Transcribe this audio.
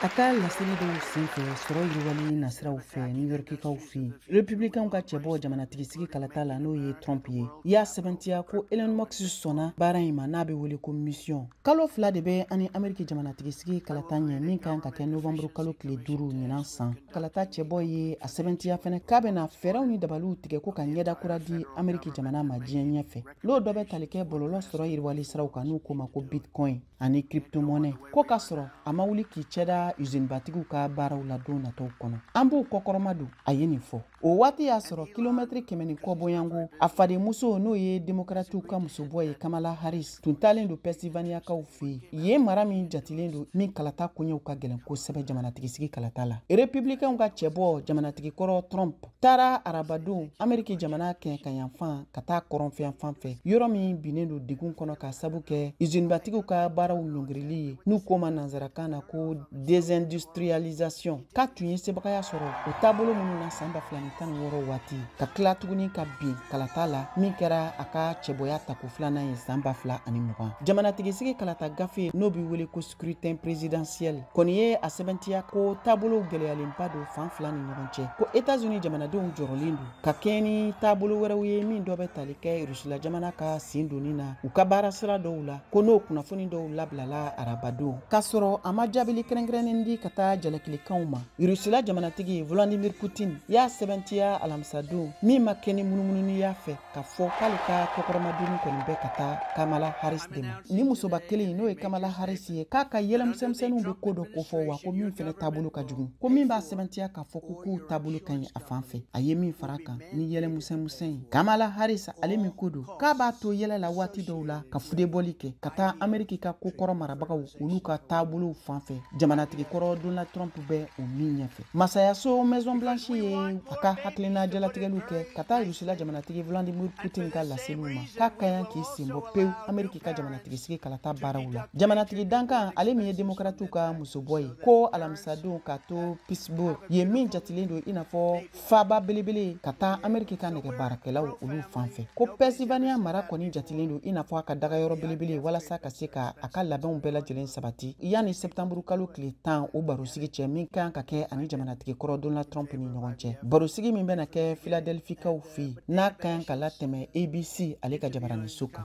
a ka laseli dɔw senfɛ sɔrɔ yiriwali nasiraw fɛ new yorkikaw fɛ republikɛnw ka cɛbɔ jamanatigisigi kalata la n'o ye trump ye y'a sɛbɛntiya ko elon musk sɔnna baara in ma n'a bɛ wele ko misiyɔn kalo fila de bɛ an ni ameriki jamanatigisigi kalata ɲɛ min kan ka kɛ novanburu kalo tile duuru ɲinan san kalata cɛbɔ ye a sɛbɛntiya fɛnɛ k'a bɛna fɛɛrɛw ni dabaliw tigɛ ko ka ɲɛda kura di ameriki jamana ma diɲɛ ɲɛfɛ n'o dɔ bɛ tali kɛ bɔlɔlɔ sɔrɔ yiriwali siraw kan n'u k'o ma ko bitcoin ani kriptomɔnɛ ko k'a sɔrɔ a ma wuli k'i cɛda usinibatigiw ka baaraw la don natɔw kɔnɔ an b'o kɔkɔrɔmadon a ye nin fɔ o waati y'a sɔrɔ kilomɛtiri kɛmɛ ni kɔ bɔ yan ko a fadenmuso n'o ye demokratiw ka musobɔ ye kamala harris tun taalen don pɛnsilvaniyakaw fɛ yen mara min jatilen don min kalata koɲɛw ka gɛlɛn kosɛbɛ jamanatigisigi kalata la republikɛnw ka cɛbɔ jamanatigi kɔrɔ trump taara arabadon ameriki jamana kɛɲɛkayanfan ka taa kɔrɔnfɛyanfan fɛ yɔrɔ min binnen don degun kɔnɔ k'a sabu kɛ izinibatigiw ka baaraw ɲɔngirili ye n'u k'o ma nansarakan na ko desindustrialisation k'a tun ye sebagaya sɔrɔ o taabolo minnu na san ba fila ni tan ni wɔɔrɔ waati ka tila tuguni ka bin kalata la min kɛra a ka cɛbɔya tako filanan ye san ba fila ani mugan jamanatigisigi kalata gafe n'o bɛ wele ko scrutin présidentiel kɔni ye a sɛbɛntiya ko taabolo gwɛlɛyalenba don fan fila ni ɲɔgɔn cɛ ko etats unis jamanadenw jɔrɔlen don ka kɛɲɛ ni taabolo wɛrɛw ye min dɔ bɛ tali kɛ rusila jamana ka sen donni na u ka baara sira dɔw la ko n'o kunnafoni dɔw labilala arabadon k'a sɔrɔ a ma jaabili kɛrɛnkɛrɛnnen di ka taa jalakilikanw ma rusila jamanatigi vladimir putin y'a sɛbɛntiya alamisadon min ma kɛ ni munumununi y'a fɛ k'a fɔ k'ale ka kɔkɔrɔmadonni kɔni bɛ ka taa kamala harris de ma ni musoba kelen n'o ye kamala harris ye k'a ka yɛlɛmisɛnmisɛnninw bɛ ko dɔ kofɔ wa ko min fɛnɛ taabolo ka jugu ko min b'a sɛbɛntiya k'a fɔ ko kow taabolo ka ɲi a fan fɛ a ye min fara kan ni yɛlɛmisɛnmisɛn ye kamala harris ale min ko don k'a b'a to yɛlɛ la waati dɔw la ka fudebɔli kɛ ka taa ameriki ka ko kɔrɔ marabagaw olu ka taabolow fan fɛ jamanatigi kɔrɔ donald trump bɛ o min ɲɛfɛ masayaso maison blanche ye a ka hakilina jalatigɛliw kɛ ka taa rusila jamanatigi vladimir putin ka laseliw ma k'a ka kan k'i senbɔ pewu ameriki ka jamanatigisigi kalata baaraw la jamanatigi dankan ale min ye demokratiw ka musobɔ ye ko alamisadon ka to pittsburgh yen min jatilen don i n'a fɔ faaba belebele ka taa ameriki ka nɛgɛ baarakɛlaw olu fan fɛ ko pennsylvania mara kɔni jatilen don i n'a fɔ a ka dagayɔrɔ belebele walasa ka se ka a ka labɛnw bɛɛ lajɛlen sabati yanni septanburu kalo tile tan o barosigi cɛ min ka kan ka kɛ a ni jamanatigi kɔrɔ donald trump ni ɲɔgɔn cɛ barosigi min bɛna kɛ filadelfikaw fɛ n'a ka kan ka latɛmɛ abc ale ka jabaraninso kan